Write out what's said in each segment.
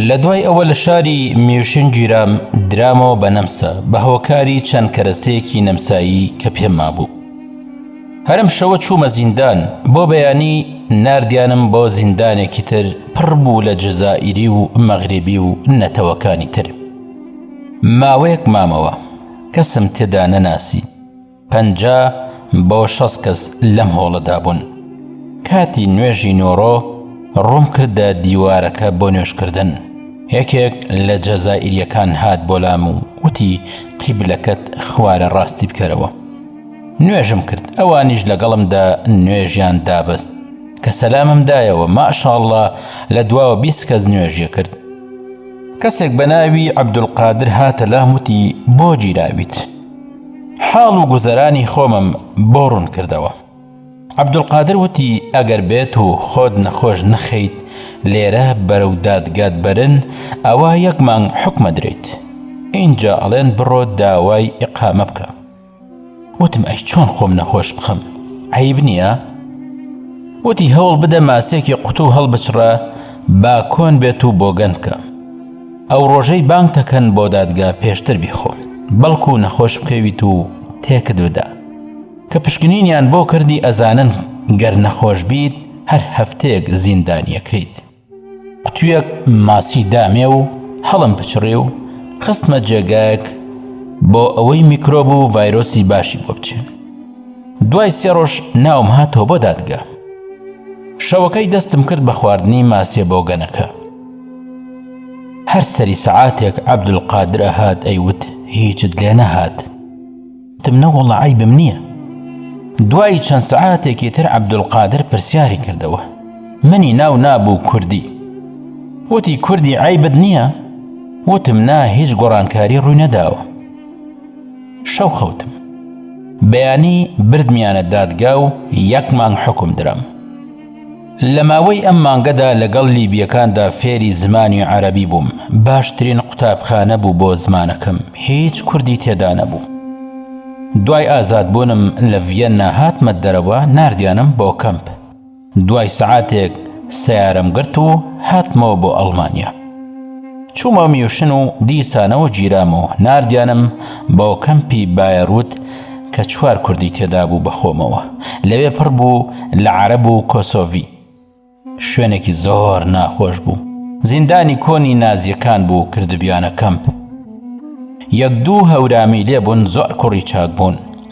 لە دوای ئەوە لە شاری میوشن گیرام درامەوە بە نەمسا بە هۆکاری چەند کەرەستەیەکی نەمسایی کە پێم مابوو هەرم شەوە چوومە زیندان بۆ بەیانی ناردیانم بۆ زیندانێکی تر پڕ بوو لە جزائیری و مەغریبی و نەتەوەکانی تر ماوەیەک مامەوە کەسم تێدا نەناسی پەنج بۆ شەست کەس لەم هۆڵەدا بوون کاتی نوێژی نۆڕۆ ڕووم کردە دیوارەکە بۆ نوێشکردن یەکێک لە جەزائیریەکان هات بۆلام و وتی قیبلەکەت خوارە ڕاستی بکەرەوە نوێژم کرد ئەوانیش لەگەڵمدا نوێژیان دابەست کە سەلامم دایەوە ماشاءاللە لە دواوە بیست کەس نوێژیە کرد کەسێک بە ناوی عەبدولقادر هاتە لام وتی بۆ گیراویت حاڵ و گوزەرانی خۆمم بۆ ڕوون کردەوە عەبدولقادر وتی ئەگەر بێت و خۆت نەخۆش نەخەیت لێرە بەرەو دادگات بەرن ئەوە یەک مانگ حکومە درێیت اینجا ئەڵێن بڕۆ داوای ئقامە بکە وتم ئەی چۆن خۆم نەخۆش بخەم عیب نییە وتی هەوڵ بدە ماسیەکی قوتو هەڵبچڕە با کۆن بێت و بۆگەن بکە ئەو ڕۆژەی بانگ دەکەن بۆ دادگا پێشتر بیخۆ بەڵکو نەخۆش بکەویت و تێکت بدا کە پشکنینیان بۆ کردی ئەزانن گەر نەخۆش بیت هەر هەفتەیەک زیندانیەکەیت قوتویەک ماسی دامێ و هەڵم پچڕی و خستمە جێگایەک بۆ ئەوەی میکرۆب و ڤایرۆسی باشی بۆ بچێن دوای سێ ڕۆژ ناوم هاتەوە بۆ دادگە شەوەکەی دەستم کرد بە خواردنی ماسیە بۆ گەنەکە هەر سەری سەعاتێک عەبدول قادرە هات ئەیوت هیچت لێ نەهات تم نەوەڵە عیبم نییە دوای چەند سەعاتێکی تر عەبدولقادر پرسیاری کردەوە منی ناو نابوو کوردی وتی کوردی عیبت نییە وتم نا هیچ گۆڕانکاری ڕووی نەداوە شەو خەوتم بەیانی بردمیانە دادگا و یەک مانگ حکم درام لە ماوەی ئەم مانگەدا لەگەڵ لیبییەکاندا فێری زمانی عەرەبی بووم باشترین قوتابخانە بوو بۆ زمانەکەم هیچ کوردی تێدا نەبوو دوای ئازادبوونم لە ڤیەننا هاتمە دەرەوە نردیانم بۆ کەمپ دوای سەعاتێک سیارم گرت و هاتمەوە بۆ ئەڵمانیا چوومە میوشن و دیسانەوە گیرام و ناردیانم بۆ کەمپی بایەروت کە چوار کوردی تێدابوو بەخۆمەوە لەوێ پڕ بوو لە عەرەب و کۆسۆڤی شوێنێکی زۆر ناخۆش بوو زیندانی کۆنی نازیەکان بوو کردبیانە کەمپ یەک دوو هەورامی لێبوون زۆر کوڕی چاک بوون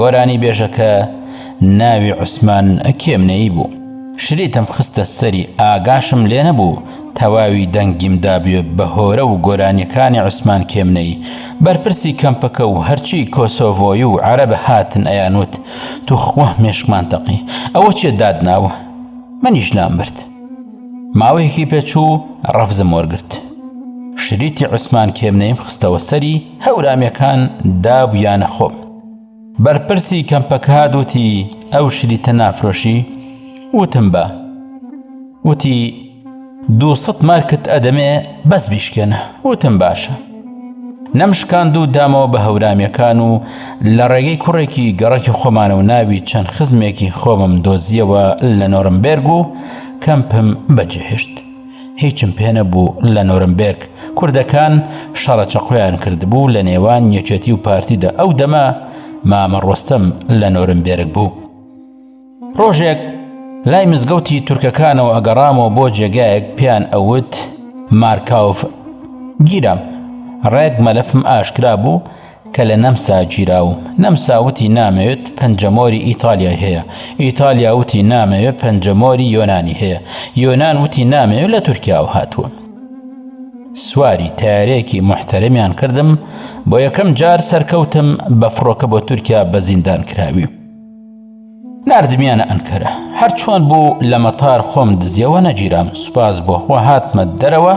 گۆرانی بێژەکە ناوی عوسمان کێمنەیی بوو شریتم خستە سەری ئاگاشم لێ نەبوو تەواوی دەنگیم دابێ بە هۆرە و گۆرانیەکانی عوسمان کێمنەی بەرپرسی کەمپەکە و هەرچی کۆسۆڤۆی و عەرەب هاتن ئەیان وت توخوا مێشکمان تەقی ئەوە چیە داد ناوە منیش لام برد ماوەیەکی پێچوو ڕەفزم وەرگرت شریتی عوسمان کێمنەیم خستەوە سەری هەورامەکان دابوویانە خۆم. بەرپرسی کەمپەکاد وتی ئەو شریتە نافرۆشی؟ وتم با. وتی دوو سەد مارکت ئەدەمێ بەس بیشکێنە. وتم باشە. نەمشکاند و دامەوە بە هەورامەکان و لە ڕێگەی کوڕێکی گەڕەکی خۆمانە و ناوی چەند خزمێکی خۆمم دۆزیەوە لە نۆرمبێرگ و کەمپم بەجێهێشت. هیچم پێ نەبوو لە نۆرمبێرگ کوردەکان شەڕە چەقۆیان کردبوو لە نێوان یەکێتی و پارتیدا ئەو دەمە مامە ڕۆستەم لە نۆرمبێرگ بوو ڕۆژێک لای مزگەوتی تورکەکانەوە ئەگەڕامەوە بۆ جێگایەک پێیان ئەوت مارکاوف گیرام ڕێک مەلەفم ئاشکرا بوو کە لە نەمسا گیراوم. نەمسا وتی نامەوێت پەنجەمۆری ئیتالیای هەیە. ئیتالیا وتی نامەوێت پەنجەمۆری یۆنانی هەیە. یۆنان وتی نامەوێت لە تورکیاوە هاتووە. سواری تەیارەیەکی موحتەرەمیان کردم، بۆ یەکەم جار سەرکەوتم بە فڕۆکە بۆ تورکیا بە زیندانکراوی. ناردمیانە ئەنکەرە هەر چۆن بوو لە مەتار خۆم دزیەوە نەگیرام سوپاس بۆ خوا هاتمە دەرەوە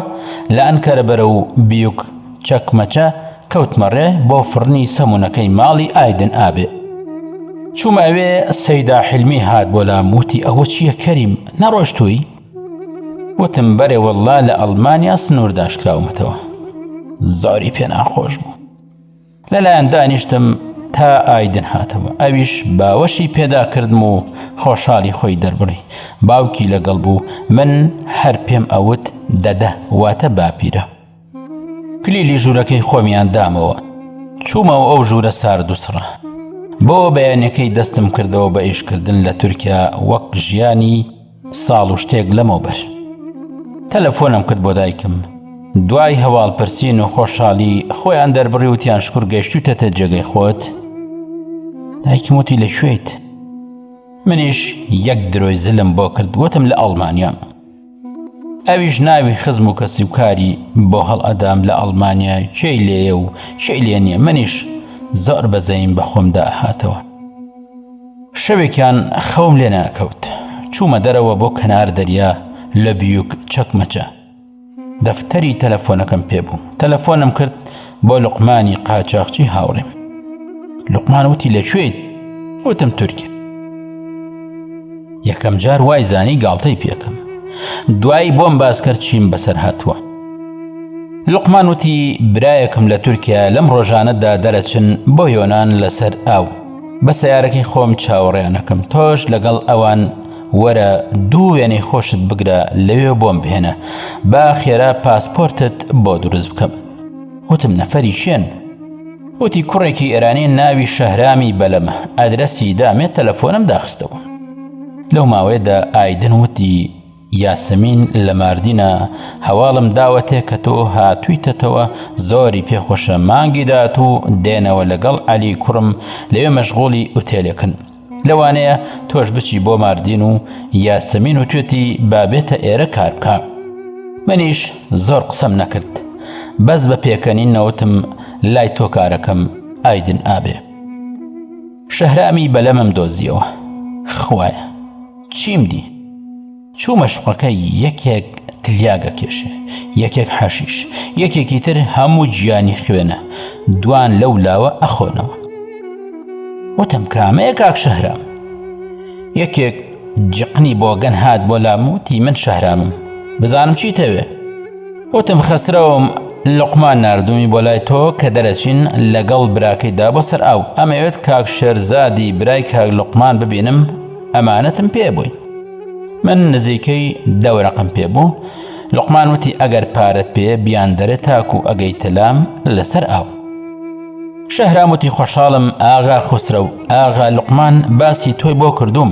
لە ئەنکەرە بەرە و بیوک چەکمەچە کەوتمەڕێ بۆ فڕنی سەمونونەکەی ماڵی ئایدن ئابێ چوومە ئەوێ سەیدا حلمی هات بۆ لام وتی ئەوە چییە کەریم نەڕۆشتووی وتم بەرێ وەڵا لە ئەڵمانیا سنوورداشکراومەتەوە زۆری پێناخۆش بوو لەلایان دانیشتم تا ئایدن هاتەوە ئەویش باوەشی پێداکردم و خۆشحالی خۆی دەربڕی باوکی لەگەڵ بوو من هەر پێم ئەوت دەدە واتە باپیرە کلیلی ژوورەکەی خۆمیان دامەوە چوومەوە ئەو ژوورە سارد و سڕە بۆ بەیانەکەی دەستم کردەوە بە ئیشکردن لە تورکیا وەک ژیانی ساڵ و شتێک لەمەوبەر تەلەفۆنم کرد بۆ دایکم دوای هەواڵپرسین و خۆشحالی خۆیان دەربڕی وتیان شکر گەشتوتەتە جێگەی خۆت دایکم وتی لە کوێیت منیش یەک درۆی زلم بۆ کرد وتم لە ئەڵمانیام ئەویش ناوی خزم و کەسی و کاری بۆ هەڵ ئەدام لە ئەڵمانیا کێی لێیە و کێی لێ نییە منیش زۆر بەزەین بە خۆمدا هاتەوە شەوێکیان خەوم لێ نەئەکەوت، چوومە دەرەوە بۆ کەنار دەریا لە بیوک چەکمەچە. دەفتەری تەلەفۆنەکەم پێ بوو. تەلەفۆنم کرد بۆ لوقمانی قاچاخچی هاوڕێم. لوقمان وتی لە کوێیت؟ وتم تورکیا. یەکەم جار وای زانی گاڵتەی پێکەم. دوایی بۆم باس کرد چیم بەسەر هاتووە. لوقمان وتی برایەکم لە تورکیا لەم ڕۆژانەدا دەرەچن بۆ یۆنان لەسەر ئاو. بە سەیارەکەی خۆم چاوەڕێیان ئەکەم تۆش لەگەڵ ئەوان وەرە دوو وێنەی خۆشت بگرە لەوێ بۆم بهێنە با خێرا پاسپۆرتت بۆ دروست بکەم وتم نەفەری کێن وتی کوڕێکی ئێرانی ناوی شەهرامی بەلەمە ئەدرەسی دامێت تەلەفۆنم داخستەوە لەو ماوەیەدا ئایدن وتی یاسمین لە ماردینە هەواڵم داوەتێ کە تۆ هاتوویتەتەوە زۆری پێ خۆشە مانگی داهاتوو دێنەوە لەگەڵ عەلی کوڕم لەوێ مەشغوڵی ئوتێلێکن لەوانەیە تۆش بچی بۆ ماردین و یاسمین و توێتی با بێتە ئێرە کار بکە منیش زۆر قسەم نەکرد بەس بە پێکەنین نەوتم لای تۆ کارەکەم ئایدن ئابێ شەهرامی بەلەمم دۆزیەوە خوایە چیم دی چوومە شوقەکەی یەکێک تلیاگە کێشێ یەکێک حەشیش یەکێکی تر هەموو گیانی خوێنە دوان لەو لاوە ئەخۆنەوە وتم کامەیە کاک شەهرام یەکێک جقنی بۆگەن هات بۆ لاموتی من شەهرامم بزانم چیتەوێ وتم، خەسرەوم لوقمان ناردوومی بۆ لای تۆ کە دەرەچین لەگەڵ براکەیدا بۆ سەر ئاو، ئەمەوێت کاک شێرزادی برای کاک لوقمان ببینم، ئەمانەتم پێ بووی. من نزیکەی دە وەرەقم پێ بوو. لوقمان وتی، ئەگەر پارەت پێیە بیاندەرێ تاکوو ئەگەیتە لام لەسەر ئاو. شەهرام وتی، خۆشحاڵم ئاغا خوسرەو، ئاغا لوقمان باسی تۆی بۆ کردووم.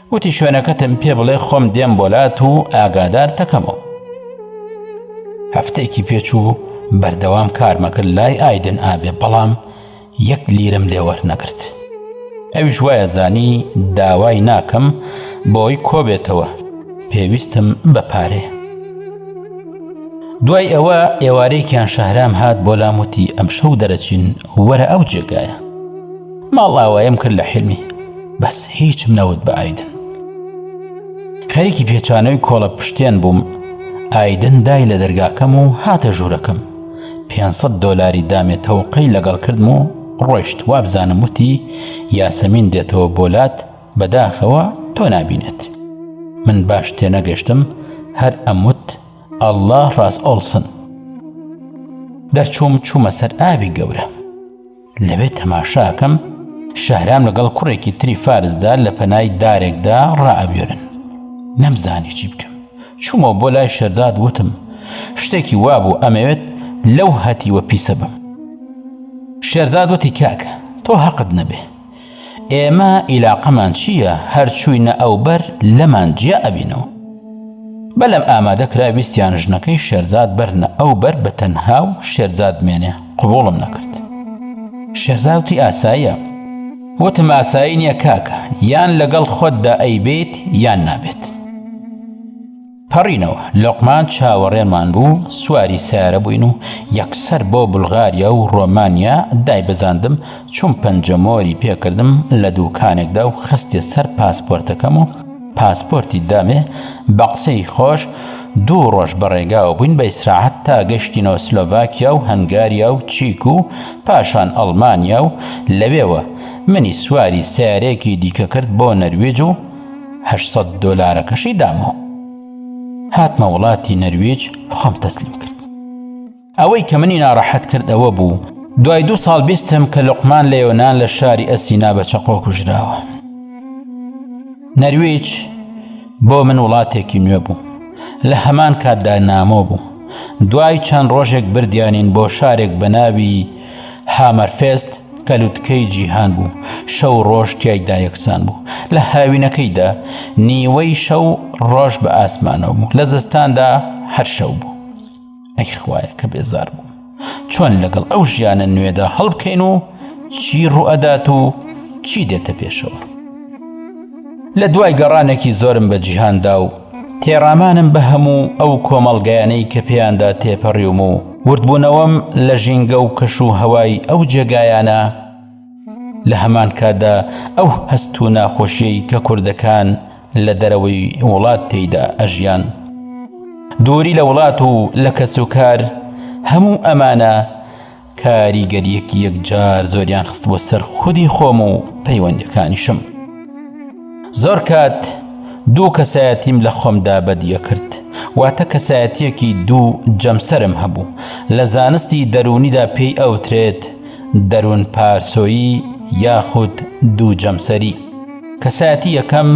وتی شوێنەکەتم پێ بڵێ خۆم دێم بۆلات و ئاگادار تەکەمەوە هەفتێکی پێچوو بەردەوام کارمەکرد لای ئایدن ئابێ بەڵام یەک لیرم لێوەر نەکرد ئەویش وایە زانی داوای ناکەم بۆی کۆبێتەوە پێویستم بە پارێ دوای ئەوە ئێوارێکیان شەهرام هات بۆ لاموتی ئەم شەو دەرەچین وەرە ئەو جێگایە ماڵئاوایم کرد لە حلمی بەس هیچم نەوت بە ئایدن خەریکی پێچانەوەی کۆڵە پشتێن بووم ئایدن دای لە دەرگاکەم و هاتە ژوورەکەم 500 دلاری دامێ تەوقەی لەگەڵ کردم و ڕۆشت وابزانم وتی یاسەمین دێتەوە بۆلات بەداخەوە تۆ نابینێت من باش تێنەگەشتم هەر ئەموت ئەله ڕاست ئۆڵسن دەرچووم چوومە سەر ئاوی گەورە لەوێ تەماشا ئەکەم شەهرام لەگەڵ کوڕێکی تری فارسدا لە پەنای دارێکدا ڕائەبوێرن نەمزانی چی بکەم چوومەوە بۆ لای شەرزاد وتم شتێکی وابوو ئەمەوێت لەو هەتیوە پیسە بم شێرزاد وتی کاکە تۆ هەقت نەبێ ئێمە ئیلاقەمان چییە هەر چووینە ئەو بەر لەمان جیا ئەبینەوە بەلەم ئامادە کرا ویستیان ژنەکەی شێرزاد بەرنە ئەو بەر بە تەنها و شێرزاد مێنێ قوبوڵم نەکرد شێرزاوتی ئاساییە وتم ئاسایی نییە کاکە یان لەگەڵ خۆتدا ئەی بێت یان نابێت پەڕینەوە، لوقمان چاوەڕێمان بوو، سواری سەیارە بووین و یەکسەر بۆ بولغاریا و ڕۆمانیا دایبزاندم، چووم پەنجەمۆری پێکردم لە دووکانێکدا و خستیە سەر پاسپۆرتەکەم و پاسپۆرتی دامێ، بە قسەی خۆش دوو ڕۆژ بە ڕێگاوە بووین بە ئیسراحەت تا گەشتینەوە سلۆڤاکیا و هەنگاریا و چیک و پاشان ئەڵمانیا و لەوێوە منی سواری سەیارەیەکی دیکە کرد بۆ نەرویج و هەشت سەد دۆلارەکەشی دامەوە هاتمە وڵاتی نەرویج خۆم تەسلیم کرد ئەوەی کە منی ناڕەحەت کرد ئەوە بوو دوای دوو ساڵ بیستم کە لقمان لە یۆناان لە شاری ئەسینا بە چەقۆ کوژراوە نەرویج بۆ من وڵاتێکی نوێ بوو لە هەمان کاتدا نامۆ بوو دوای چەند ڕۆژێک بردیانین بۆ شارێک بە ناوی هامەرفێست کە لوتکەی جیهان بوو شەو و ڕۆژ تیایدا یەکسان بوو لە هاوینەکەیدا نیوەی شەو ڕۆژ بە ئاسمانەوە بوو لە زستاندا هەر شەو بوو ئەی خوایە کە بێزار بوو چۆن لەگەڵ ئەو ژیانە نوێدا هەڵبکەین و چی ڕوئەدات و چی دێتە پێشەوە لە دوای گەڕانێکی زۆرم بە جیهاندا و تێڕامانم بە هەموو ئەو کۆمەڵگایانەی کە پێیاندا تێپەڕیوم و وردبوونەوەم لە ژینگە و کەش و هەوای ئەو جێگایانە، لە هەمان کاتدا ئەو هەست و ناخۆشیەی کە کوردەکان لە دەرەوەی وڵات تێیدا ئەژیان، دووری لە وڵات و لە کەس و کار، هەموو ئەمانە، کاریگەریەکی یەکجار زۆریان خست بۆ سەر خودی خۆم و پەیوەندەکانیشم زۆر کات دوو کەسایەتیم لە خۆمدا بەدیە کرد واتە کەسایەتیەکی دوو جەمسەرم هەبوو لە زانستی دەروونیدا پێی ئەوترێت دەروون پارسۆیی یاخود دوو جەمسەری کەسایەتی یەکەم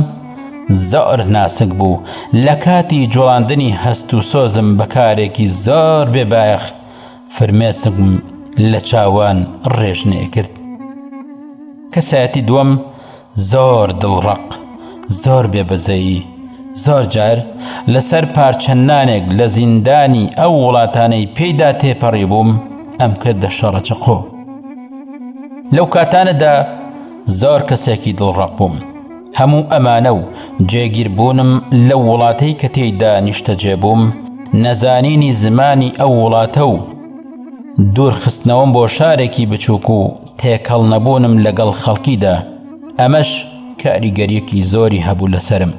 زۆر ناسک بوو لە کاتی جوڵاندنی هەست و سۆزم بەکارێکی زۆر بێبایەخ فرمێسکم لە چاوان ڕێژ نەیەکرد کەسایەتی دووەم زۆر دڵ ڕەق زۆر بێ بەزەیی زۆر جار لەسەر پارچە نانێک لە زیندانی ئەو وڵاتانەی پێیدا تێپەڕی بووم ئەم کردە شەڕە چەقۆ لەو کاتانەدا زۆر کەسێکی دڵڕەق بووم هەموو ئەمانە و جێگیربوونم لەو وڵاتەی کە تێیدا نیشتەجێ بووم، نەزانینی زمانی ئەو وڵاتە و دوورخستنەوەم بۆ شارێکی بچووک و تێکەڵ نەبوونم لەگەڵ خەڵکیدا، ئەمەش کاریگەرییەکی زۆری هەبوو لەسەرم.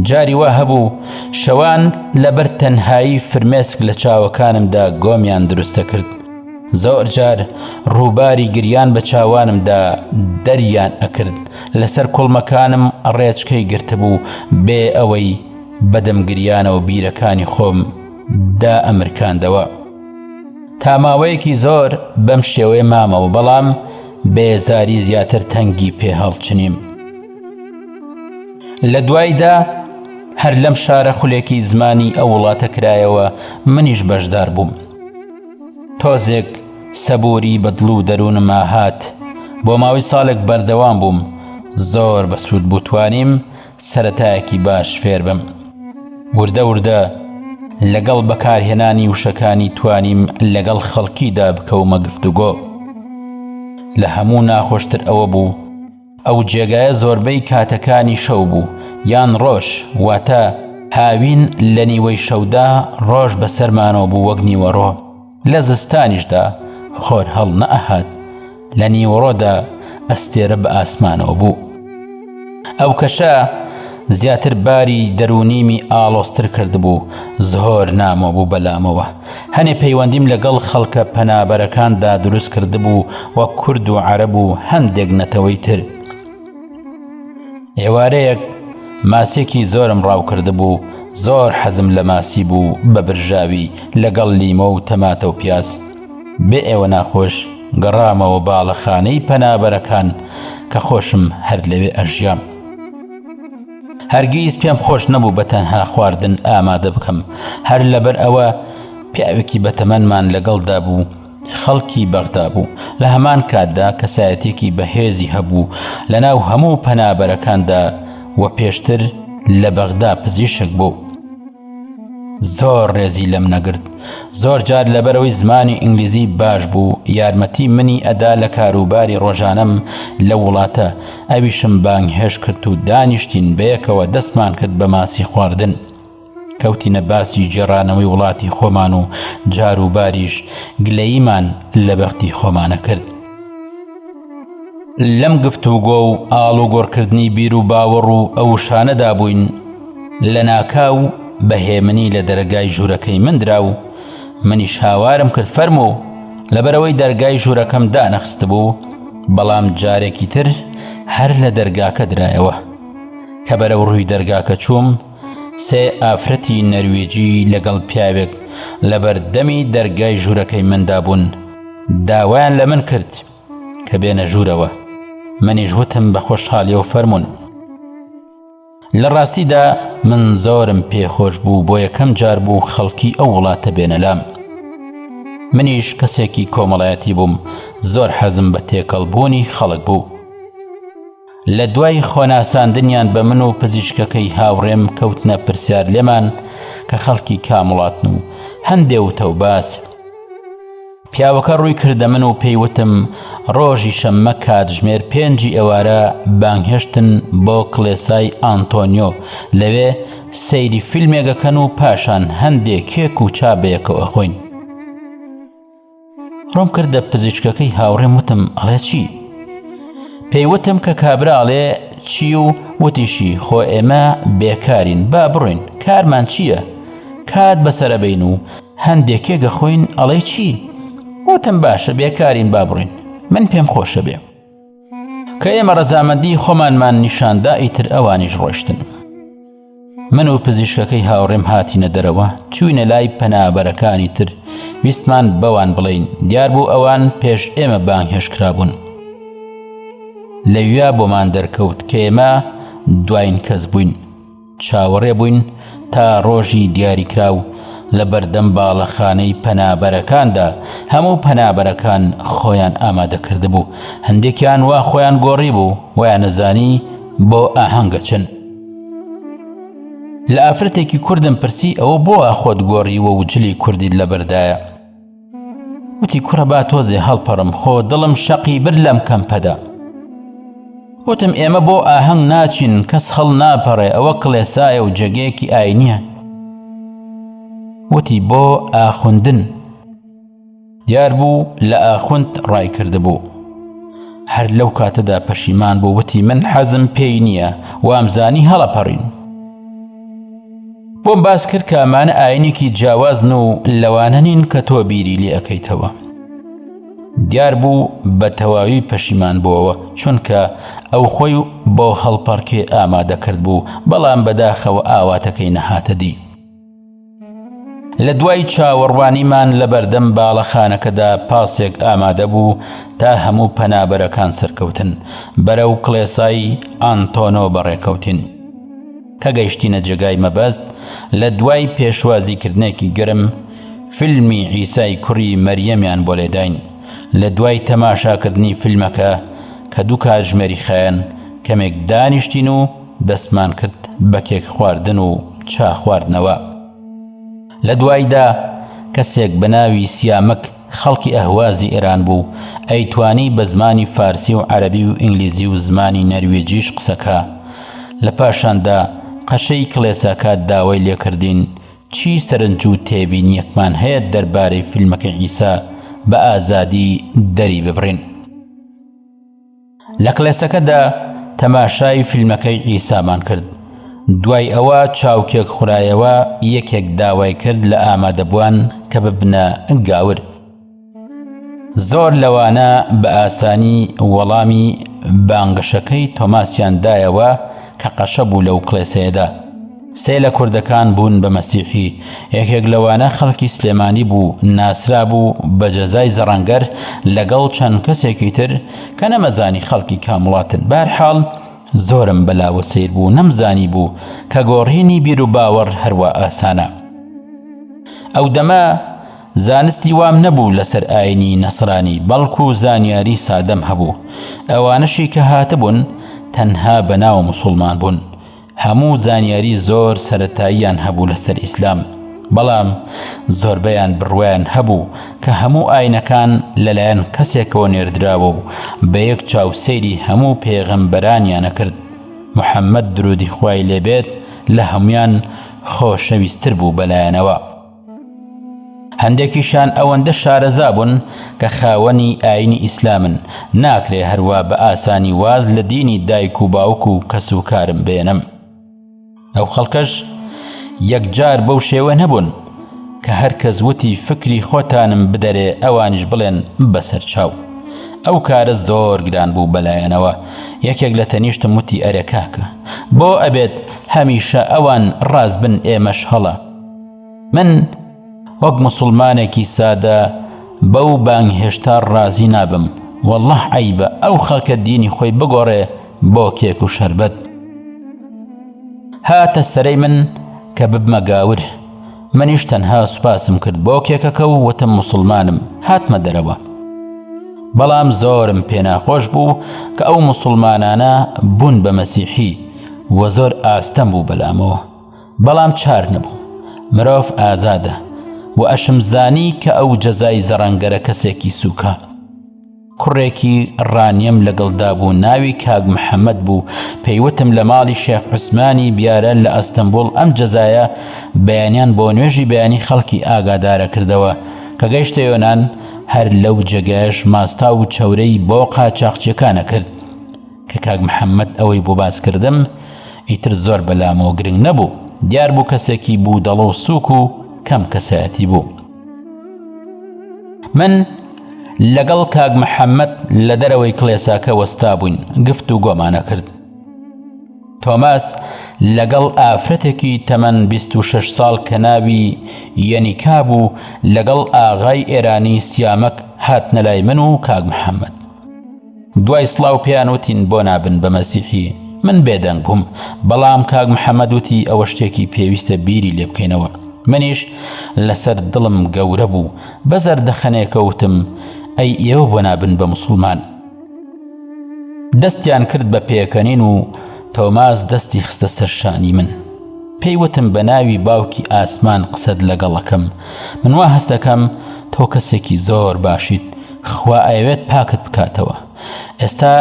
جاری وا هەبوو شەوان لەبەر تەنهایی فرمێسک لە چاوەکانمدا گۆمیان دروست دەکرد. زۆر جار ڕووباری گریان بە چاوانمدا دەریان ئەکرد لەسەر کوڵمەکانم ڕێچکەی گرتبوو بێ ئەوەی بەدەم گریانەوە بیرەکانی خۆم دا ئەمرکاندەوە تا ماوەیەکی زۆر بەم شێوەیە مامەوە بەڵام بێزاری زیاتر تەنگی پێ هەڵچنیم لە دوایدا هەر لەم شارە خولێکی زمانی ئەو وڵاتە کرایەوە منیش بەشدار بووم. تۆزێک سەبووری بە دڵ و دەروونما هات، بۆ ماوەی ساڵێک بەردەوام بووم، زۆر بەسوود بوو توانیم سەرەتایەکی باش فێر بم، وردە وردە لەگەڵ بەکارهێنانی وشەکانی توانیم لەگەڵ خەڵکیدا بکەومە گفتوگۆ، لە هەموو ناخۆشتر ئەوە بوو، ئەو جێگایە زۆربەی کاتەکانی شەو بوو یان ڕۆژ واتە هاوین لە نیوەی شەودا ڕۆژ بەسەرمانەوە بوو وەک نیوەڕۆ لە زستانیشدا خۆر هەڵ نەئەهات لە نیوەڕۆدا ئەستێرە بە ئاسمانەوە بوو ئەو کەشە زیاتر باری دەرونیمی ئاڵۆستر کردبوو زۆر نامۆ بوو بەلامەوە هەنێ پەیوەندیم لەگەڵ خەڵکە پەنابەرەکاندا دروست کردبوو و کورد و عەرەب و هەندێک نەتەوەی تر ئێوارەیەک ماسێکی زۆرم ڕاوکردبوو زۆر حەزم لە ماسی بوو بە برژاوی لەگەڵ لیمۆ و تەماتە و پیاز بێ ئێوە ناخۆش گەڕامەوە باڵەخانەی پەنابەرەکان کە خۆشم هەر لەوێ ئەژیام. هەرگیز پێم خۆش نەبوو بە تەنها خواردن ئامادە بکەم هەر لەبەر ئەوە پیاوێکی بەتەمەنمان لەگەڵدا بوو خەڵکی بەغدا بوو لە هەمان کاتدا کەسایەتێکی بەهێزی هەبوو لە ناو هەموو پەنابەرەکاندا و پێشتر لە بەغدا پزیشک بوو زۆر ڕێزی لەم نەگرت زۆر جار لەبەرەوەی زمانی ئینگلیزی باش بوو یارمەتی منی ئەدا لە کاروباری ڕۆژانەم لەو وڵاتە ئەویشم بانگهێشت کرد و دانیشتین بەیەکەوە دەستمان کرد بە ماسی خواردن کەوتینە باسی گێڕانەوەی وڵاتی خۆمان و جاروباریش گلەییمان لە بەختی خۆمانە کرد. لەم گفتوگۆ و ئاڵوگۆڕکردنی بیر و باوەڕ و ئەو وشانەدا بووین، لەناکاو بە هێمنی لە دەرەگای ژوورەکەی من درا و منیش هاوارم کرد، فەرموو! لەبەرئەوەی دەرگای ژوورەکەم دانەخستبوو، بەڵام جارێکی تر هەر لە دەرگاکە درایەوە. کە بەرەو ڕووی دەرگاکە چووم، سێ ئافرەتی نەرویجی لەگەڵ پیاوێک لەبەردەمی دەرگای ژوورەکەی مندا بوون، داوایان لە من کرد، کە بێنە ژوورەوە منیش وتم بە خۆشحالیەوە فەرمونون لە ڕاستیدا من زۆرم پێخۆش بوو بۆ یەکەم جار بوو خەڵکی ئەو وڵاتە بێنەلام منیش کەسێکی کۆمەڵایەتی بووم زۆر حەزم بە تێکەڵ بوونی خەڵک بوو لە دوای خۆناساندنیان بە من و پزیشکەکەی هاوڕێم کەوتنە پرسیار لێمان کە خەڵکی کام وڵاتن و هەندێ وتە و باس پیاوەکە ڕووی کردە من و پێی وتم ڕۆژی شەممە کاتژمێر پێنجی ئێوارە بانگهێشتن بۆ کڵێسای ئانتۆنیۆ لەوێ سەیری فیلمێکەکەن و پاشان هەندێ کێک و چا بەیەکەوە خۆین ڕوم کردە پزیشکەکەی هاوڕێم وتم ئەڵێ چی پێیوتم کە کابراڵێ چی و وتیشی خۆ ئێمە بێکارین با بڕۆین کارمان چییە کات بەسەرەبین و هەندێک کێگە خۆین ئەڵەی چی وتم باشە بێکارین با بڕین من پێم خۆشە بێ کە ئێمە ڕەزامەندی خۆمانمان نیشاندا ئیتر ئەوانیش ڕۆشتن من و پزیشکەکەی هاوڕێم هاتینە دەرەوە چوینە لای پەنابەرەکانی تر ویستمان بەوان بڵین دیار بوو ئەوان پێش ئێمە بانگهێش کرابوون لەویا بۆمان دەرکەوت کە ئێمە دوایین کەس بووین چاوەڕێ بووین تا ڕۆژی دیاریکراو لە بەردەم باڵەخانەی پەنابەرەکاندا هەموو پەنابەرەکان خۆیان ئامادە کردبوو هەندێکیان وا خۆیان گۆڕی بوو وایان نەزانی بۆ ئاهەنگە چن لە ئافرەتێکی کوردم پرسی ئەوە بۆ خۆت گۆڕیوە و جلی کوردیت لەبەردایە وتی کوڕە با تۆزێ هەڵپەڕم خۆ دڵم شەقی برد لەم کەمپەدا وتم ئێمە بۆ ئاهەنگ ناچین کەس هەڵ ناپەڕێ ئەوە کڵێسایە و جێگەیەکی ئاینیە وتی بۆ ئاخوندن دیار بوو لە ئاخوند ڕای کردبوو هەر لەو کاتەدا پەشیمان بوو وتی من حەزم پێی نییە وامزانی هەڵەپەڕین بۆم باس کرد کە ئەمانە ئاینێکی جیاوازن و لەوانە نین کە تۆ بیری لێ ئەەکەیتەوە دیار بوو بە تەواوی پەشیمان بووەوە چونکە ئەو خۆی بۆ هەڵپەڕکێ ئامادەکرد بوو بەڵام بەداخەوە ئاواتەکەی نەهاتە دی لە دوای چاوەڕوانیمان لە بەردەم باڵەخانەکەدا پاسێک ئامادە بوو تا هەموو پەنابەرەکان سەرکەوتن بەرە و کڵێسایی ئانتۆنۆ بەڕێکەوتین. کە گەیشتینە جێگای مەبەست، لە دوای پێشوازیکردنێکی گەرم، فیلمی عیسای کوڕی مەریەمیان بۆ لێداین. لە دوای تەماشاکردنی فیلمەکە، کە دوو کاتژمێری خایەن، کەمێک دانیشتین و دەستمان کرد بە کێک خواردن و چا خواردنەوە. لە دوایدا، کەسێک بە ناوی سیامەک خەڵکی ئەهوازی ئێران بوو، ئەیتوانی بە زمانی فارسی و عەرەبی و ئینگلیزی و زمانی نەرویجیش قسەکا. لە پاشاندا، قەشەی کڵێساکە داوای لێکردین، چی سەرنج و تێبینییەکمان هەیە دەربارەی فیلمەکەی عیسا، بە ئازادی دەریببڕین. لە کڵێسەکەدا تەماشای فیلمەکەی عیسامان کرد، دوای ئەوە چاوکێک خورایەوە، یەکێک داوای کرد لە ئامادەبووان کە ببنە گاور. زۆر لەوانە بە ئاسانی وەڵامی بانگەشەکەی تۆماسیان دایەوە کە قەشە بوو لەو کڵێسەیەدا. سێ لە کوردەکان بوون بە مەسیحی، یەکێک لەوانە خەڵکی سلێمانی بوو، ناسرابوو بە جەزای زەڕەنگەر لەگەڵ چەند کەسێکی تر کە نەمەزانی خەڵکی کام وڵاتن، بەهەرحاڵ زۆرم بە لاوە سەیر بوو نەمزانیبوو کە گۆڕینی بیروباوەڕ هەروا ئاسانە. ئەو دەمە زانستی وام نەبوو لەسەر ئاینی نەسرانی بەڵکو زانیاری سادەم هەبوو، ئەوانەشی کە هاتبوون تەنها بە ناو موسوڵمان بوون، هەموو زانیاری زۆر سەرەتاییان هەبوو لەسەر ئیسلام بەڵام زۆربەیان بڕوایان هەبوو کە هەموو ئاینەکان لەلایەن کەسێکەوە نێردراوە و بە یەک چاو سەیری هەموو پێغەمبەرانیان ئەکرد محمد درودی خوای لێبێت لە هەموویان خۆشەویستر بوو بەلایانەوە. هەندێکیشان ئەوەندە شارەزا بوون کە خاوەنی ئاینی ئیسلامن، ناکرێ هەروا بە ئاسانی واز لە دینی دایک و باوک و کەس و کارم بێنم. ئەو خەڵکەش یەکجار بەو شێوە نەبوون کە هەر کەس وتی فکری خۆتانم بدەرێ ئەوانیش بڵێن بەسەر چاو. ئەو کارە زۆر گران بوو بە لایانەوە یەکێک لە تەنیشتم وتی ئەرێ کاکە بۆ ئەبێت هەمیشە ئەوان ڕاست بن ئێمەش هەڵە؟ من وەک مسلمانێکی سادە بەو بانگ هێشتا ڕازی نابم والله عیبە ئەو خەکە دینی خۆی بگۆڕێ بۆ کێک و شربەت هاتە سەرەی من کە ببمە گاور منیش تەنها سوپاسم کرد بۆ کێکەکە و وتم مسلمانم هاتمە دەرەوە بەڵام زۆرم پێناخۆش بوو کە ئەو مسلمانانە بوون بە مەسیحی وە زۆر ئاستەم بوو بەلامەوە بەڵام چار نەبوو مرۆڤ ئازادە و ئەشمزانی کە ئەو جەزای زەڕەنگەرە کەسێکی سوکە کوڕێکی ڕانیم لەگەڵدا بوو ناوی کاک محەممەد بوو پێیوتم لە ماڵی شێخ عوسمانی بیارە لە ئەستەمبول ئەم جەزایە بەیانیان بۆ نوێژی بەیانی خەڵکی ئاگادارە کردەوە کە گەیشتە یۆناان هەر لەو جێگایش ماستا و چەورەی بۆ قاچاقچیەکانە کرد کە کاک محەممەد ئەوەی بۆ باس کردم، ئیتر زۆر بە لامەوە گرنگ نەبوو. دیار بوو کەسێکی بوودەڵە و سووک و کەم کەسایەتی بوو. من لەگەڵ کاک محەممەد لە دەرەوەی کڵێساکە وەستابووین، گفتوگۆمان ئەکرد. تۆماس لەگەڵ ئافرەتێکی تەمەن بیست و شەش ساڵ کە ناوی یەنیکا بوو، لەگەڵ ئاغای ئێرانی سیامەک هاتنە لای من و کاک محەممەد. دوای سڵاو پێیان وتین بۆ نابن بە مەسیحی من بێدەنگ بووم بەڵام کاک محەممەد وتی ئەوە شتێکی پێویستە بیری لێ بکەینەوە منیش لەسەر دڵم گەورە بوو بە زەردەخەنێکە وتم ئەی ئێوە بۆ نابن بە مسلمان دەستیان کرد بە پێکەنین و تۆماز دەستی خستە سەرشانی من پێی وتم بە ناوی باوکی ئاسمان قسەت لەگەڵەکەم منوا هەستەکەم تۆ کەسێکی زۆر باشیت خوا ئەیەوێت پاکت بکاتەوە ئێستا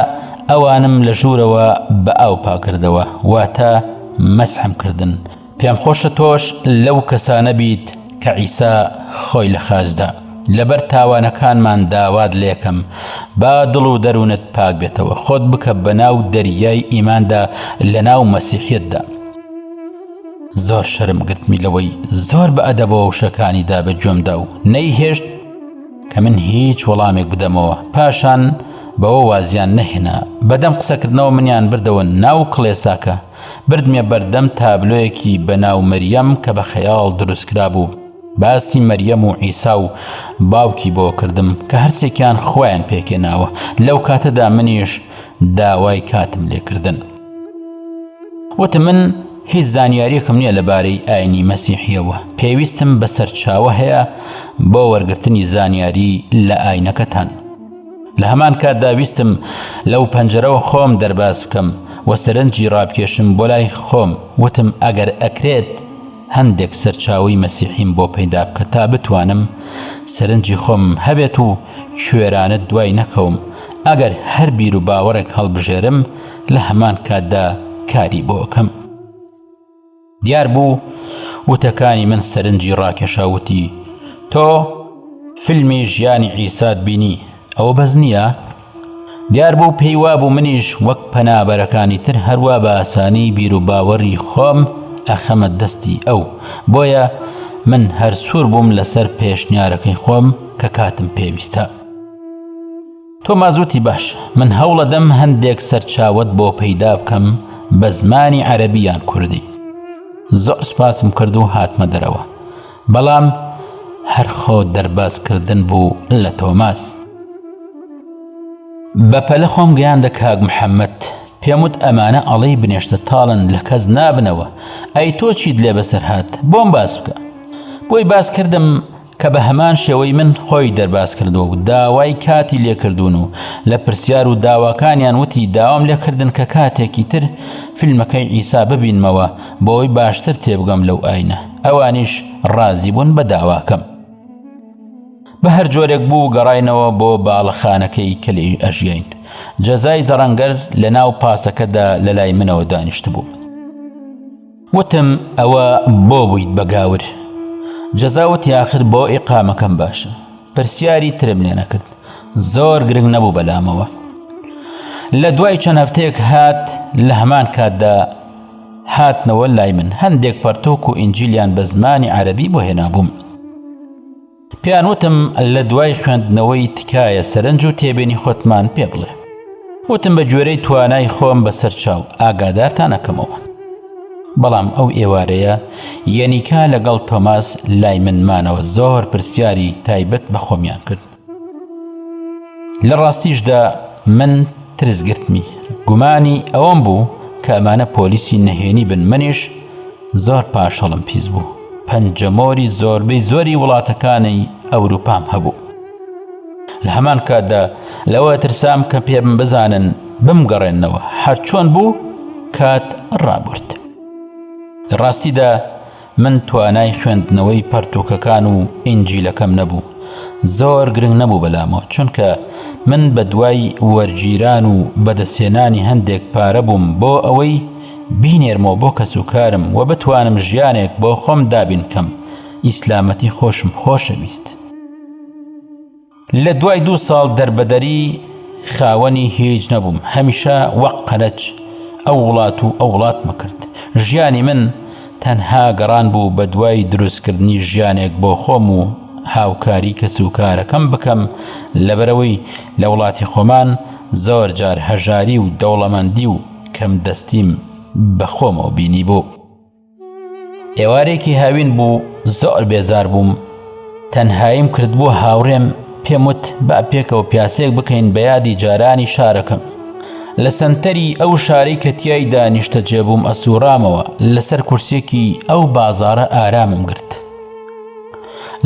ئەوانم لە ژوورەوە بە ئاو پاکردەوە واتە مەسحم کردن پێم خۆشە تۆش لەو کەسانە بیت کە عیسا خۆی لە خاچدا لەبەر تاوانەکانمان داوات لێکەم با دڵ و دەروونت پاک بێتەوە خۆت بکە بە ناو دەریای ئیماندا لە ناو مەسیحەتدا زۆر شەرم گرتمی لەوەی زۆر بە ئەدەبەوە وشەکانی دا بە گوێمدا و نەیهێشت کە من هیچ وەڵامێک بدەمەوە پاشان بەوە وازیان نەهێنا بەدەم قسەکردنەوە منیان بردەوە ناو کڵێساکە بردمێ بەردەم تابلۆیەکی بەناو مەریەم کە بە خەیاڵ دروستکرا بوو باسی مەریەم و ئیسا و باوکی بۆ کردم کە هەرسێکیان خۆیان پێکێناوە لەو کاتەدا منیش داوای کاتم لێکردن وتم من هیچ زانیاریەکم نییە لە بارەی ئاینی مەسیحیەوە پێویستم بە سەرچاوە هەیە بۆ وەرگرتنی زانیاری لە ئاینەکەتان لە هەمان کاتدا ویستم لەو پەنجەرەوە خۆم دەرباز بکەم و سەرنجی ڕابکێشم بۆ لای خۆم وتم ئەگەر ئەکرێت هەندێک سەرچاوەی مەسیحیم بۆ پەیدا بکە تا بتوانم سەرنجی خۆم هەبێت و کوێرانە دوای نەکەوم ئەگەر هەر بیر و باوەڕێک هەڵبژێرم لە هەمان کاتدا کاری بۆ ئەکەم دیار بوو وتەکانی من سەرنجی ڕاکێشاوتی تۆ فیلمی ژیانی عیسات بینی ئەوە بەس نییە دیاربوو پێی وابوو منیش وەک پەنابەرەکانی تر هەروا بە ئاسانی بیر و باوەڕی خۆم ئەخەمە دەستی ئەو بۆیە من هەر سوور بووم لەسەر پێشنیارەکەی خۆم کە کاتم پێویستە تۆ مازوتی باش من هەوڵەدەم هەندێک سەرچاوت بۆ پەیدا بکەم بە زمانی عەربیان کوردی زۆر سپاسم کرد و هاتمە دەرەوە بەڵام هەر خۆ دەرباز کردن بوو لە تۆماس. بە پەلە خۆم گەیاندە کاک محەممەد پێم وت ئەمانە ئەڵێی بنێشتە تاڵن لە کەس نابنەوە ئەی تۆ چیت لێ بەسەر هات بۆم باس بکە بۆی باس کردم کە بە هەمان شێوەی من خۆی دەرباز کردو و داوای کاتی لێکردوون و لە پرسیار و داواکانیان وتی داوام لێکردن کە کاتێکی تر فیلمەکەی ئیسا ببینمەوە بۆی باشتر تێبگەم لەو ئاینە ئەوانیش ڕازی بوون بە داواکەم بە هەر جۆرێک بوو گەڕینەوە بۆ باڵەخانەکەی کە لێی ئەژیین جەزای زەڕەنگەر لە ناو پاسەکەدا لە لای منەوە دانیشت بوو وتم ئەوە بۆ بوویت بە گاور جەزاوت یاخر بۆ ئیقامەکەم باشە پرسیاری ترم لێ نەکرد زۆر گرنگ نەبوو بەلامەوە لە دوای چەند هەفتەیەک هات لە هەمان کاتدا هاتنەوە لای من هەندێک پەرتوک و ئینجیلیان بە زمانی عەرەبی بۆ هێنابووم پێیان وتم لە دوای خوێندنەوەی تکایە سەرنج و تێبێنی خۆتمان پێ بڵێ وتم بە گوێرەی توانای خۆم بەسەر چاو ئاگادارتانەکەمەوە بەڵام ئەو ئێوارەیە یەنیکا لەگەڵ تۆماس لای منمانەوە زۆر پرسیاری تایبەت بە خۆمیان کرد لە ڕاستیشدا من ترس گرتمی گومانی ئەوەم بوو کە ئەمانە پۆلیسی نەهێنی بن منیش زۆر پاشەڵم پیس بوو پەنجەمۆری زۆربەی زۆری وڵاتەکانی ئەوروپام هەبوو لە هەمان کاتدا لەوە ترسام کە پێم بزانن بمگەڕێنەوە هەرچۆن بوو کات ڕابرد لە ڕاستیدا من توانای خوێندنەوەی پەرتووکەکان و ئینجیلەکەم نەبوو زۆر گرنگ نەبوو بەلامەوە چونکە من بە دوای وەرگیران و بەدەستێنانی هەندێک پارە بووم بۆ ئەوەی بینێرمەوە بۆ کەس و کارم و بتوانم ژیانێک بۆ خۆم دابینکەم ئیسلامەتی خۆشم خۆشەویست. لە دوای دوو ساڵ دەربەدەری خاوەنی هیچ نەبووم هەمیشە وەک قەرەج ئەو وڵات و ئەو وڵاتمە کرد ژیانی من تەنها گەڕان بوو بە دوای دروستکردنی ژیانێک بۆ خۆم و هاوکاری کەس و کارەکەم بکەم لەبەرەوەی لە وڵاتی خۆمان زۆر جار هەژاری و دەوڵەمەندی و کەم دەستیم بەخۆمەوە بینی بوو. ئێوارێکی هاوین بوو زۆر بێزار بووم تەنهاییم کردبوو هاوڕێم پێم وت با پێکەوە پیاسێک بکەین بە یادی جارانی شارەکەم لە سنتەری ئەو شارەی کە تیای دانیشتە جێبووم ئەسوڕامەوە لەسەر کورسێکی ئەو بازارە ئارامم گرت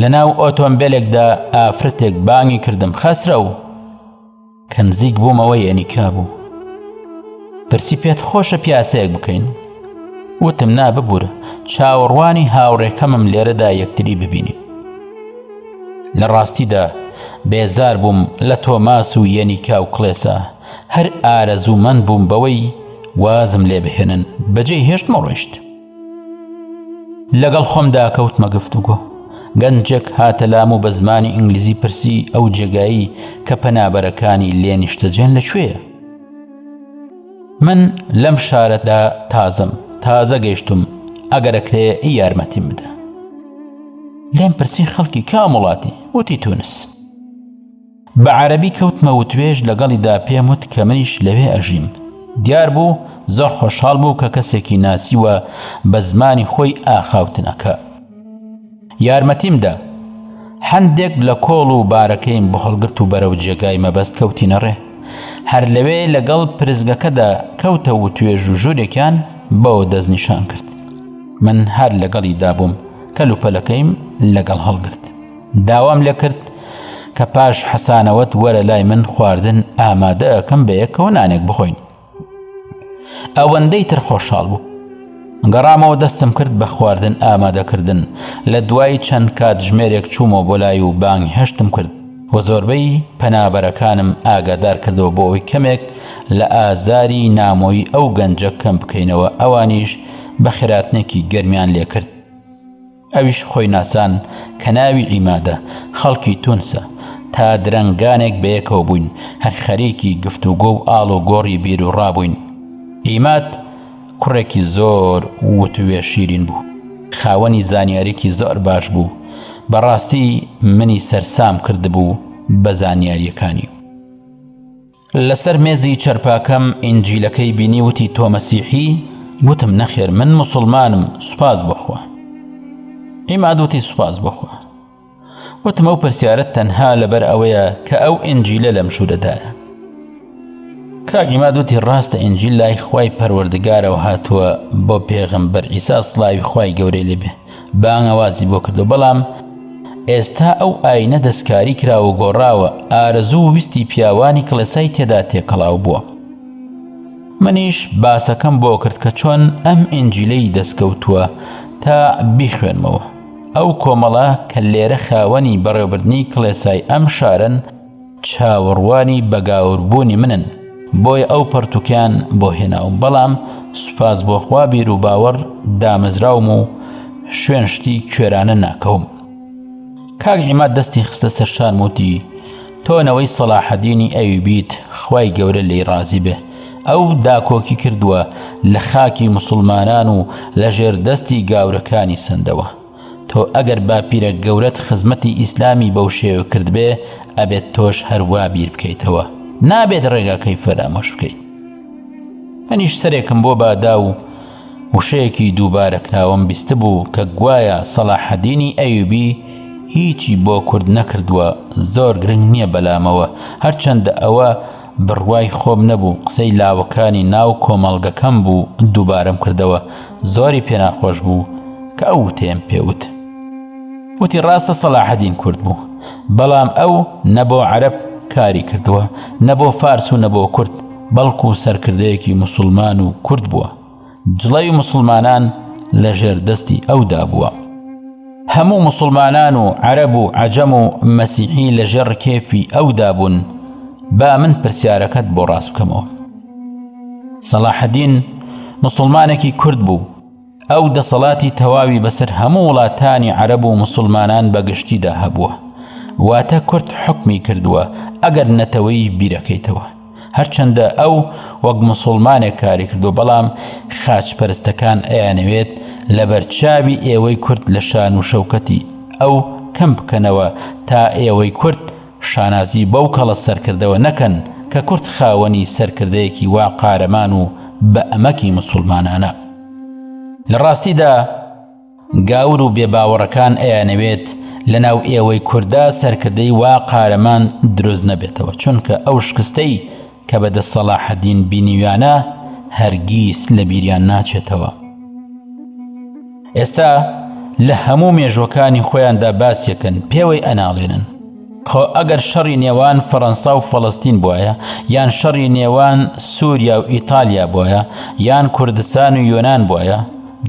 لە ناو ئۆتۆمبیلێکدا ئافرەتێک بانگی کردم خەسرە و کە نزیک بوومەوەی ئەنیکا بوو پرسی پێت خۆشە پیاسەیەک بکەین وتم نا ببور چاوەڕوانی هاوڕێکەمم لێرەدا یەکتری ببینی لە ڕاستیدا بێزار بووم لە تۆماس و یەنیکا و کڵێسا هەر ئارەزوومەند بووم بەوەی وازم لێ بهێنن بەجێ هێشتمە ڕۆیشت لەگەڵ خۆمدا کەوتمە گفتوگۆ گەنجێک هاتە لام و بە زمانی ئینگلیزی پرسی ئەو جێگایی کە پەنابەرەکانی لێ نیشتەجێن لەکوێیە من لەم شارەدا تازم تازە گەیشتم ئەگەرەکرێ ئی یارمەتیم بدە لێم پرسی خەڵکی کام وڵاتی وتی تونس بە عەرەبی کەوتمە وتوێژ لەگەڵیدا پێم وت کە منیش لەوێ ئەژیم دیار بوو زۆر خۆشحاڵ بوو کە کەسێکی ناسی و بە زمانی خۆی ئاخاوتنەکە یارمەتیم دا هەندێک لە کۆڵ و بارەکەیم بهڵگرت و بەرەو جێگای مەبەست کەوتینە ڕێ هەر لەوێ لەگەڵ پرزگەکەدا کەوتە و توێژ و ژوورێکیان بەوە دەستنیشان کرد من هەر لەگەڵی دابووم کەلوپەلەکەیم لەگەڵ هەڵگرت داوام لێ کرد کە پاش حەسانەوەت وەرە لای من خواردن ئامادە ئەکەم بە یەکەوە نانێک بخۆین ئەوەندەی تر خۆشحاڵ بوو گەڕامەوە دەستم کرد بە خواردن ئامادەکردن لە دوای چەند کات ژمێرێک چوومەوە بۆ لای و بانگ هەشتم کرد و زۆربەی پەنابەرەکانم ئاگادار کردەوە بۆ ئەوی کەمێک لە ئازاری نامۆی ئەو گەنجە کەم بکەینەوە ئەوانیش بە خێراتنێکی گەرمیان لێکرد ئەویش خۆی ناسان کە ناوی عیمادە، خەڵکی تونسە. تا درەنگانێک بەیەکەوە بووین، هەر خەریکی گفتوگۆ و ئاڵ و گۆڕی بیروڕا بووین. عیماد کوڕێکی زۆر وتووێژ شیرین بوو. خاوەنی زانیاریی زۆر باش بوو. بەڕاستی منی سەرسام کردبوو بە زانیارییەکانی. لەسەر مێزی چەرپاکەم ئینجیلەکەی بینی وتی تۆ مەسیحی وتم نەخێر من مسلمانم سوپاس بخوا عیماد وتی سوپاس بخوا وتم ئەو پرسیارت تەنها لەبەر ئەوەیە کە ئەو ئنجیلە لەم شوورەدایە کاگیمادوتی ڕاستە ئنجیل لای خوای پەروەردگارەوە هاتووە بۆ پێغم بەر ئیسا سلاوی خوای گەورەی لێبێ بانگەوازی بۆ کردو بەڵام ئێستا ئەو ئاینە دەستکاری کراوە و گۆڕاوە ئارەزوو و ویستی پیاوانی کڵێسای تێدا تێکەڵاو بووە منیش باسەکەم بۆ کرد کە چۆن ئەم ئنجیلەی دەستکەوتووە تا بیخوێنمەوە ئەو کۆمەڵە کە لێرە خاوەنی بەڕێوبردنی کڵێسای ئەم شارن چاوەڕوانی بەگاوربوونی منن بۆیە ئەو پەرتوکیان بۆ هێناوم بەڵام سوپاس بۆخوا بیر و باوەڕ دامەزراوم و شوێن شتی کوێرانە ناکەوم کاک عیماد دەستی خستە سەرشان وتی تۆنەوەی سەلاحەدینی ئەویبیت خوای گەورە لی ڕازی بێ ئەو داکۆکی کردووە لە خاکی مسلمانان و لە ژێر دەستی گاورەکانی سندەوە تۆ ئەگەر باپیرە گەورەت خزمەتی ئیسلامی بەو شێوە کردبێ ئەبێت تۆش هەروا بیر بکەیتەوە نابێت ڕێگاکەی فەرامۆش بکەیت منیش سەرێکم بۆ بادا و وشەیەکی دووبارە کراوەم بیست بوو کە گوایە سەڵاحەدینی ئەیوبی هیچی بۆ کورد نەکردووە زۆر گرنگ نییە بەلامەوە هەرچەندە ئەوە بڕوای خۆم نەبوو قسەی لاوەکانی ناو کۆمەڵگەکەم بوو دووبارەم کردەوە زۆری پێناخۆش بوو کە ئەو وتەیەم پێوت وتی ڕاستە سەلاحەدین کورد بوو بەڵام ئەو نەبۆ عەرب کاری کردووە نەبۆ فارس و نەبۆ کورد بەڵکو سەرکردەیەکی مسلمان و کورد بووە جڵەوی مسوڵمانان لە ژێر دەستی ئەودا بووە هەموو مسوڵمانان و عەرەب و عەجەم و مەسیحی لە ژێر کێفی ئەودا بوون با من پرسیارەکەت بۆ ڕاست بکەمەوە سەڵاحەدین مسلمانێکی کورد بوو ئەو دەسەڵاتی تەواوی بەسەر هەموو وڵاتانی عەرەب و مسلمانان بەگشتیدا هەبووە واتە کورد حکمی کردووە ئەگەر نەتەوەی بیرەکەیتەوە هەرچەندە ئەو وەک مسوڵمانێک کاری کردووە بەڵام خاچ پەرستەکان ئەیانەوێت لەبەر چاوی ئێوەی کورد لە شان و شەوکەتی ئەو کەم بکەنەوە تا ئێوەی کورد شانازی بەو کەڵە سەرکردەوە نەکەن کە کورد خاوەنی سەرکردەیەکی وا قارەمان و بە ئەمەکی مسوڵمانانە لە ڕاستیدا گاور و بێ باوەڕەکان ئەیانەوێت لە ناو ئێوەی کوردا سەرکردەی وا قارەمان دروست نەبێتەوە چونکە ئەو شکستەی کە بە دەست سەڵاحەدین بینیویانە هەرگیز لە بیریان ناچێتەوە ئێستا لە هەموو مێژوەکانی خۆیاندا باسیەکەن پێوەی ئەناڵێنن خۆ ئەگەر شەڕی نێوان فەرەنسا و فەڵەستین بوایە یان شەڕی نێوان سووریا و ئیتالیا بوایە یان کوردستان و یۆنان بوایە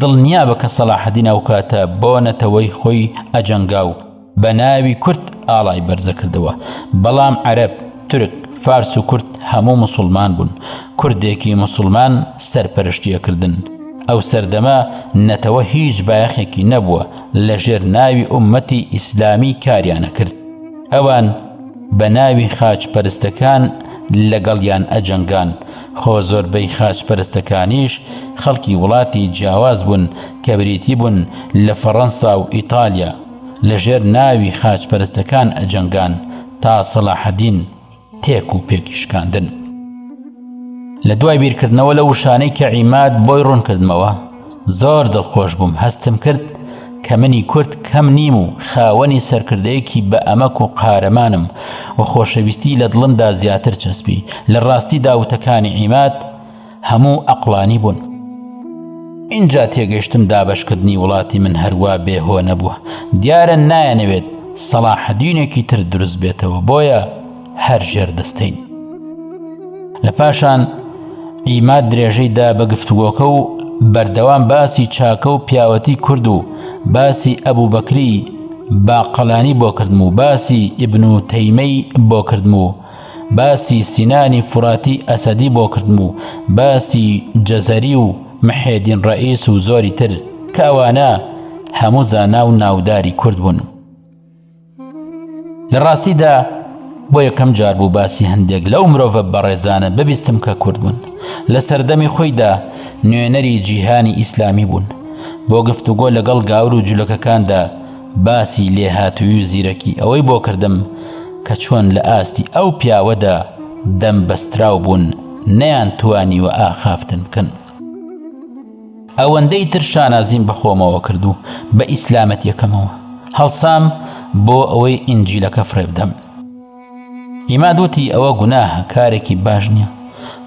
دڵنیابە کە سەلاحەدین ئەو کاتە بۆ نەتەوەی خۆی ئەجەنگا و بە ناوی کورد ئاڵای بەرزە کردەوە بەڵام عەرەب تورک فارس و کورد هەموو مسلمان بوون کوردێکی مسلمان سەرپەرشتیە کردن ئەو سەردەمە نەتەوە هیچ بایەخێکی نەبووە لە ژێر ناوی ئومەتی ئیسلامی کاریانەکرد ئەوان بە ناوی خاچ پەرستەکان لەگەڵیان ئەجەنگان خۆ زۆربەی خاچ پەرستەکانیش خەڵکی وڵاتی جیاواز بوون کە بریتی بوون لە فەڕەنسا و ئیتالیا لە ژێر ناوی خاچ پەرستەکان ئەجەنگان تا سەلاحەدین تێک و پێکی شکاندن لە دوای بیرکردنەوە لە وشانەی کە عیماد بۆی ڕوونکردمەوە زۆر دڵخۆش بووم هەستم کرد کە منی کورد کەم نیم و خاوەنی سەرکردەیەکی بە ئەمەک و قارەمانم و خۆشەویستی لە دڵمدا زیاتر چەسپی لە ڕاستی داوتەکانی عیماد هەموو ئەقڵانی بوون. ئینجا تێگەشتم دابەشکردنی وڵاتی من هەروا بێهۆ نەبووە، دیارە نایانەوێت سەڵاحەدینێکی تر دروست بێتەوە بۆیە هەر ژێر دەستین. لە پاشان ئیماد درێژەی دا بە گفتوگۆکە و بەردەوام باسی چاکە و پیاوەتی کورد و باسی ئەبوو بەکری باقەلانی بۆ کردم و باسی ئیبن و تەیمەی بۆ کردم و باسی سینانی فوراتی ئەسەدی بۆ کردم و باسی جەزەری و محێدین ڕەئیس و زۆری تر کە ئەوانە هەموو زانا و ناوداری کورد بوون لە ڕاستیدا بۆ یەکەم جار بوو باسی هەندێک لەو مرۆڤە بەڕێزانە ببیستم کە کورد بوون لە سەردەمی خۆیدا نوێنەری جیهانی ئیسلامی بوون بۆ گفتوگۆ لەگەڵ گاور و جولەکەکاندا باسی لێهاتووی و زیرەکی ئەوەی بۆ کردم کە چۆن لە ئاستی ئەو پیاوەدا دەم بەستراو بوون نەیان توانیوە ئاخافتن بکەن. ئەوەندەی تر شانازیم بە خۆمەوە کرد و بە ئیسلامەتیەکەمەوە هەڵسام بۆ ئەوەی ئینجیلەکە فڕێبدەم. ئیماد وتی ئەوە گوناهە کارێکی باش نیە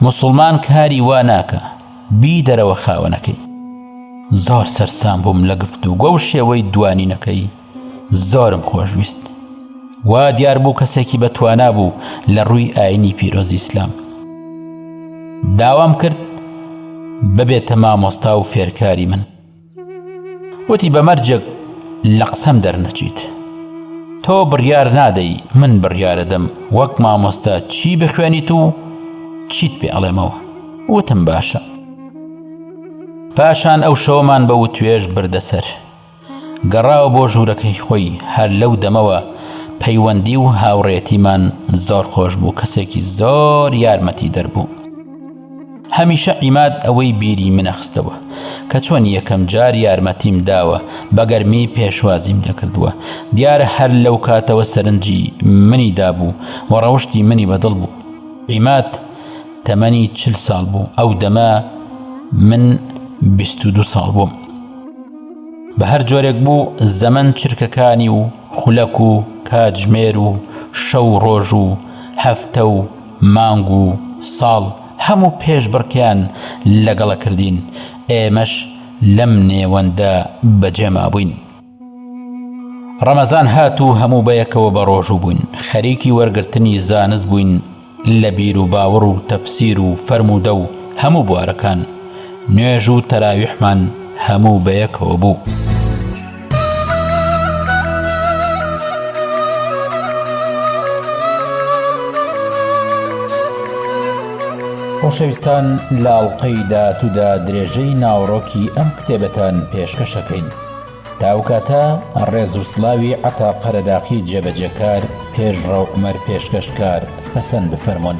موسڵمان کاری وا ناکا. بیدەرەوە خاوەنەکەی زۆر سەرسام بووم لە گفت و گۆ و شێوەی دوانینەکەی زۆرم خۆشویست وا دیار بوو کەسێکی بەتوانا بوو لە ڕووی ئاینی پیرۆزی ئیسلام داوام کرد ببێتە مامۆستا و فێرکاری من وتی بە مەرجێک لە قسەم دەرنەچیت تۆ بڕیار نادەی من بڕیارەدەم وەک مامۆستا چی بخوێنیت و چیت پێ ئەڵێمەوە وتم باشە پاشان ئەو شەوەمان بە وتوێژ بردەسەر گەڕاوە بۆ ژوورەکەی خۆی هەر لەو دەمەوە پەیوەندی و هاوڕێتیمان زۆر خۆش بوو کەسێکی زۆر یارمەتی دەربوو هەمیشە عیماد ئەوەی بیری منە خستەوە کە چۆن یەکەم جار یارمەتیم داوە بەگەرمی پێشوازیم دەکردووە دیارە هەر لەو کاتەوە سەرنجی منی دابوو و ڕەوشی منی بەدڵ بوو عیماد تەمەنی چل ساڵ بوو ئەو دەمە من بیست و دو ساڵ بووم بە هەر جۆرێک بوو زەمن چرکەکانی و خولەک و کاتژمێر و شەو ڕۆژ و هەفتە و مانگ و ساڵ هەموو پێشبڕکێیان لەگەڵە کردین، ئێمەش لەم نێوەندە بەجێمابووین. ڕەمەزان هات و هەموو بەیەکەوە بەڕۆژوو بووین، خەریکی وەرگرتنی زانست بووین لە بیروباوەڕ و تەفسیر و فەرموودە و هەموو بوارەکان، نوێژ و تەراویحمان هەموو بەیەکەوە بوو. خۆشەویستان لە ئەڵقەی داهاتوودا درێژەی ناوەڕۆکی ئەم کتێبەتان پێشکەشەکەین تا ئەو کاتە ڕێز و سلاوی عەتا قەرەداخی جێبەجێکار پێشڕەو عومەر پێشکەشکار پەسەند بفەرموون.